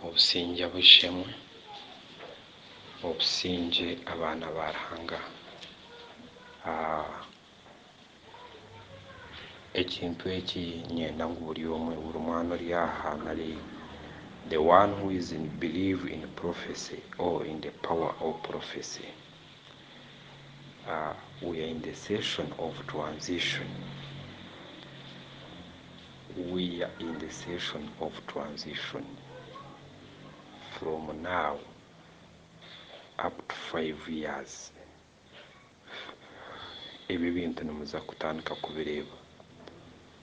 Obusingye bw'eishe-emwe, obusingye abaana ba Ruhanga. Ekintu eki niinyenda ngu buri omwe, buri mwana ori aha nari the one who is in believe in prophecy or in the power of prophecy. We are in the session of transition, we are in the session of transition from now up to five years ebi ebintu nimuza kutandika kubireeba.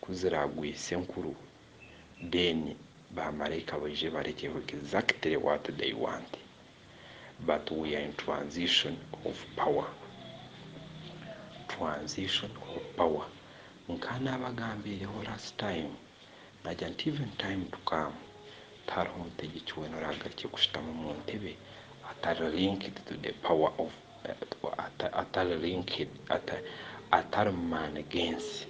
ku ziraagwise enkuru then ba maraika baije barekyeho exactly what they want but we are in transition of power transition of power nka naabagambiireho last time naagira nti even time to come tihariho mutegyeki weena oraagarukye kushutama omu ntebe atari linked to the power of atari mu maani g'ensi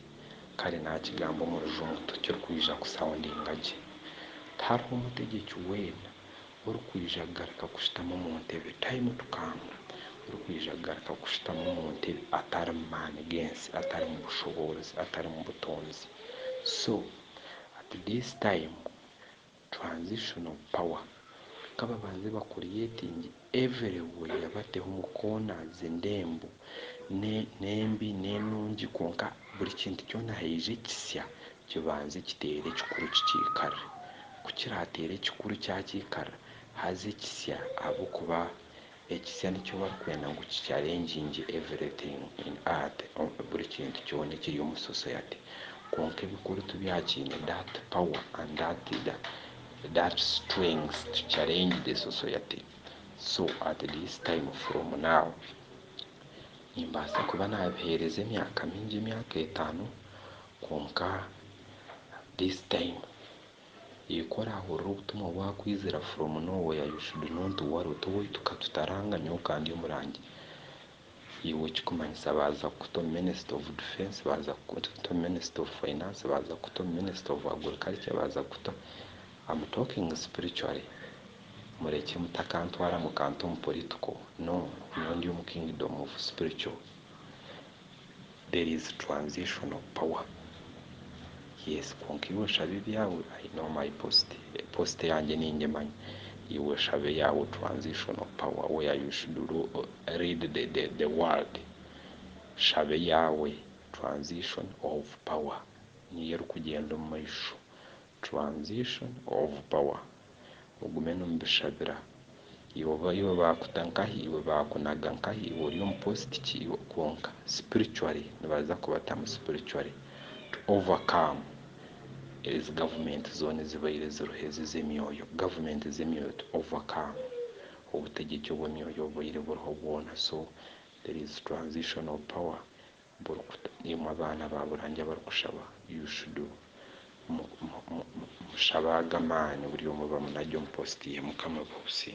kare naakigamba omu rujungu tikirikwija kuhurikiza gye. Tihariho mutegyeki weena orikwija kugaruka kushutama omu ntebe, time to come, orikwija kugaruka kushutama omu ntebe atari mu maani g'ensi, atari mu bushoboorozi, atari mu butoonzi. So at this time. Transitional power kababanze ba creating everywhere bateho mu corners endembo nembi nenungi kwonka buri kintu kyona haija ekisya kibanze kitere ekikuru kikyikarre kukirateera ekikuru kyakyikarra haza ekisya ahabwokuba Ekisya nikyo barikwenda ngu ki challenging everything in art, buri kintu kyona ekiri omu society. Kwonka ebikuru tibyakiine that power and that that strength to challenge the society. So at this time from now nimbaasa kuba naabiheereza emyaka mingi, emyaka etaano kwonka this time Ikwo orahurira obutumwa bwakwizira from now where you should not worry oti owaitu katutaranga nyowe kandi omurangi iwe ekikumanyisa baza kukuta omu minister of defence baza kukuta omu minister of finance baza kukuta omu minister of agriculture baza kukuta am talking spiritually murekye mutakantwara mukanta omu political no nyowe ndi omu kingdom of spiritual. There is transition of power yes kwonka iwe shaba ebyawe I know my post post yangye ningimanya iwe shaba eyawe transition of power where you should read the the the word shaba eyawe transition of power niyo erikugyenda omumaisho Transition of power ogume nomubishabira iwe oba iwe bakuta nkahi iwe bakunaga nkahi iwe ori omu post ki iwe kwonka spiritually nibaza kubatamu spiritually to over come ezi government zona ezibaire ziriho ezi zemyoyo government zemyoyo to over come obutegyeki obwemyoyo obubaire buriho bwona so there is transition of power Imwe abaana ba Burangi abarikushaba you should mushabe ago amaani buri omwe bamunage omu post ye. Mukama abahe obusinge.